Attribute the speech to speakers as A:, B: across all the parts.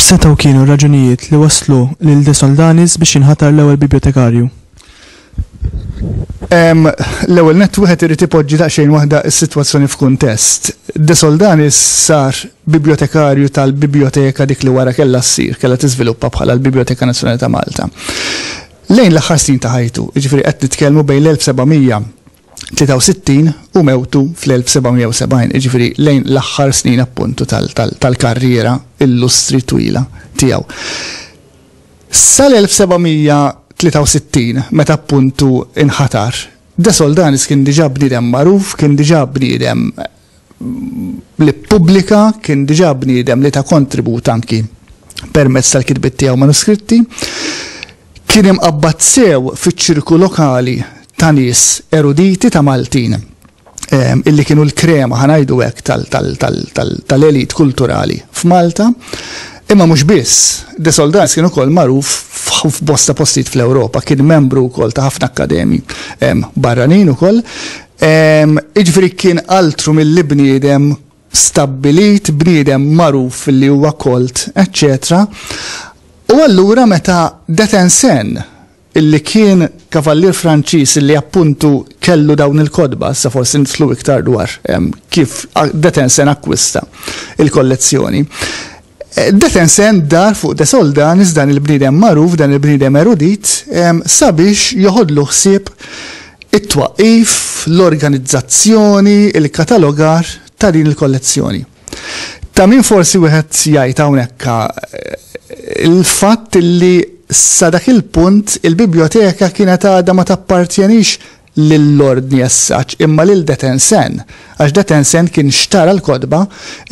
A: X'setgħu kienu r-raġunijiet li wasslu lil De Soldanis biex jinħatar l-ewwel bibjotekarju?
B: L-ewwel nett wieħed irid ipoġġi daqsxejn waħda s-sitwazzjoni f'kuntest. De Soldanis sar bibjotekarju tal-bibjoteka dik li wara kellha ssir, kellha tiżviluppa bħala l-Bibjoteka Nazzjonali ta' Malta. Lejn l-aħħar snin ta' ħajtu, jiġifieri qed nitkellmu bejn l-1763 u mewtu fl-1770, jiġifieri lejn l-aħħar snin appuntu tal-karriera illustri twila tiegħu. Sal-1763, meta appuntu nħatar, De Soldanis kien diġà bniedem magħruf, kien diġà bniedem li ppubblika, kien diġà bniedem li ta kontribut anki permezz tal-kitbiet tiegħu manuskritti, kien imqabbad sew fiċ-ċirku lokali ta' nies eruditi ta' Maltin. illi kienu l-krema, ħa ngħidu hekk, tal-elite kulturali f'Malta. Imma mhux biss, De Soldans kien ukoll magħruf f'bosta postijiet fl-Ewropa, kien membru wkoll ta' ħafna akkademji barranin ukoll. Jiġifieri kien altru milli bniedem stabbilit, bniedem magħruf li huwa kolt, eċċetera. U allura meta Detensen illi kien kavallier Franċiż illi appuntu kellu dawn il-kotba, issa forsi nidħlu iktar dwar kif Detensen akkwista l-kollezzjoni. Detensen dar fuq De Soldanis, dan il-bniedem magħruf, dan il-bniedem erudit, sabiex joħodlu ħsieb it-twaqqif, l-organizzazzjoni, il-katalogar ta' din il-kollezzjoni. Ta' min forsi wieħed jgħid hawnhekk il-fatt li sa dak il-punt il-bibljoteka kienet għadha ma tappartjenix lill-Ordni as such imma lil detensen, għax detensen kien xtara l-kotba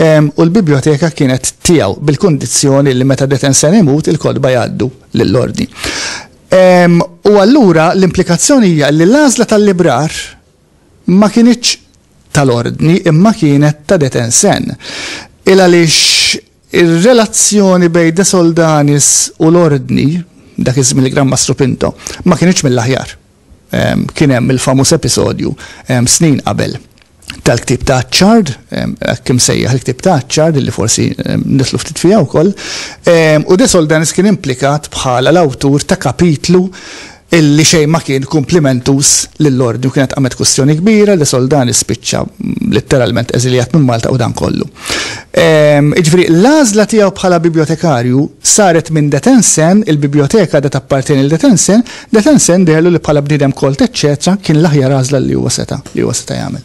B: ehm, u l-bibljoteka kienet tiegħu bil-kundizzjoni li meta detensen imut il-kotba jgħaddu lill-Ordni. Ehm, u allura l-implikazzjoni hija li l-għażla tal-librar ma kinitx tal-Ordni imma kienet ta' Detensen, il-għaliex ir-relazzjoni bejn De Soldanis u l-Ordni, dak iż-żmien il-Gran Mastru Pinto, ma kinitx mill-aħjar. Kien hemm il-famuż episodju snin qabel tal-ktieb ta' Achard, hekk imsejjaħ il-ktieb ta' Achard illi forsi nidħlu ftit fiha wkoll, u De Soldanis kien implikat bħala l-awtur ta' kapitlu li xejn ma kien kumplimentuż lill-Ordni u kienet qamet kwistjoni kbira li Soldani spiċċa litteralment eżiljat minn Malta u dan kollu. Jiġifieri l-għażla tiegħu bħala bibjotekarju saret minn De Tensen, il-bibjoteka għadha tappartjeni lil De Tensen, De Tensen deherlu li bħala bniedem kolt eċċetera kien l-aħjar għażla li huwa seta' jagħmel.